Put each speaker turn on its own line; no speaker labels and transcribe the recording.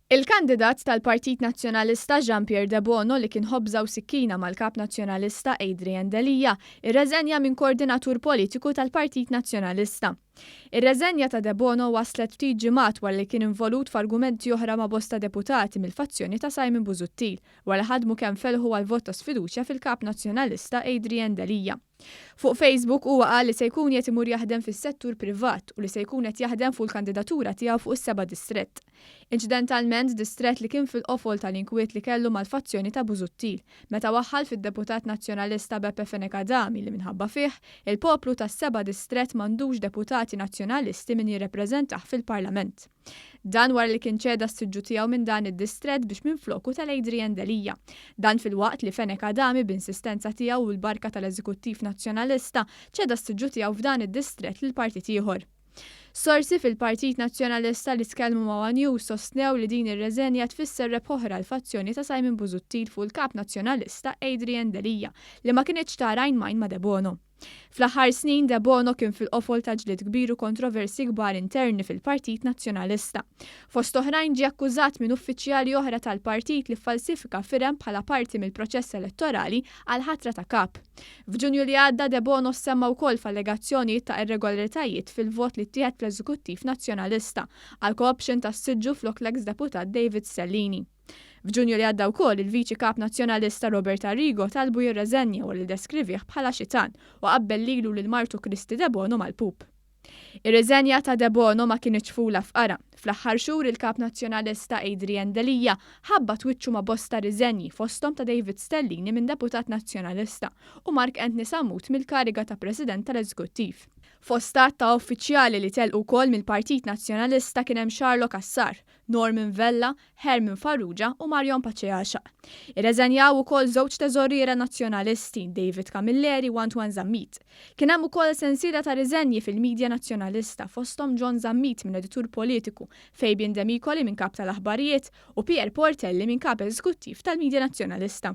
Il-kandidat tal-Partit Nazzjonalista Jean Pierre Debono li kien ħobża u sikkina mal-Kap Nazzjonalista Adrian Delia irreżenja minn Koordinatur Politiku tal-Partit Nazzjonalista. Ir-reżenja ta' Debono waslet ftit ġimgħat wara li kien involut f'argumenti oħra ma' bosta deputati mill-fazzjoni ta' Simon Busuttil wara ħadmu kemm felħu għall-vot ta' sfiduċja fil-Kap Nazzjonalista Adrian Delia. Fuq Facebook huwa qal li se jkun qiegħed imur jaħdem fis-settur privat u li se jkun qed jaħdem fuq il-kandidatura tiegħu fuq is-seba' distrett. Inċidentalment distrett li kien fil-qofol tal-inkwiet li kellu mal-fazzjoni ta' Busuttil meta waħħal fid-deputat Nazzjonalista Beppe Fenech Adami li minħabba fih, il-poplu tas-seba' distrett m'għandux deputati Nazzjonalisti min jirrepreżentah fil-Parlament. Dan wara li kien ċeda s-siġġu tiegħu minn dan id-distrett biex minfloku ta' l-Adrian Delia. Dan filwaqt li Fenech Adami b'insistenza tiegħu u l-barka tal-Eżekuttiv Nazzjonalista ċeda s-siġġu tiegħu f'dan id-distrett lil partit ieħor. Sorsi fil-Partit Nazzjonalista li tkellmu ma' one News sostnew li din ir-reżenja tfisser rebħa oħra għall-fazzjoni ta' Simon Busuttil fuq il-Kap Nazzjonalista Adrian Delia li ma kinitx tara għajn m'għajn ma' Debono. Fl-aħħar snin Debono kien fil-qofol ta' ġlied kbir u kontroversji kbar interni fil-Partit Nazzjonalista. Fost oħrajn ġie akkużat minn uffiċjali oħra tal-partit li ffalsifika firem bħala parti mill-proċess elettorali għall-ħatra ta' Kap. F'Ġunju li għadda Debono ssemma wkoll f'allegazzjonijiet ta' irregolaritajiet fil-vot li ttieħed fl-Eżekuttiv Nazzjonalista għal co-option tas-siġġu flok l-eks deputat David Stellini. F'Ġunju li għadda wkoll il-Viċi Kap Nazzjonalista Robert Arrigo talbu jirreżenja wara li ddeskrivih bħala xitan u qabbel lilu lil martu Kristy Debono mal-pup. Ir-riżenja ta' Debono ma kinitx fula f'qara. Fl-aħħar xhur il-Kap Nazzjonalista Adrian Delia ħabbat wiċċu ma' bosta riżenji fosthom ta' David Stellini minn Deputat Nazzjonalista u Mark Anthony Sammut mill-kariga ta' President tal-Eżekuttiv. Fost għadd ta' uffiċjali li telqu wkoll mill-Partit Nazzjonalista kien hemm Charlo Cassar, Norman Vella, Herman Farrugia u Marion Paceasha. Irreżenjaw ukoll żewġ teżoriera Nazzjonalisti, David Camilleri u Antoine Zammit. Kien hemm ukoll sensiela ta' riżenji fil-midja Nazzjonalista fosthom John Zammit minn editur politiku, Fabian Demicoli minn kap tal-aħbarijiet u Pierre Portelli minn kap eżekuttiv tal-midja Nazzjonalista.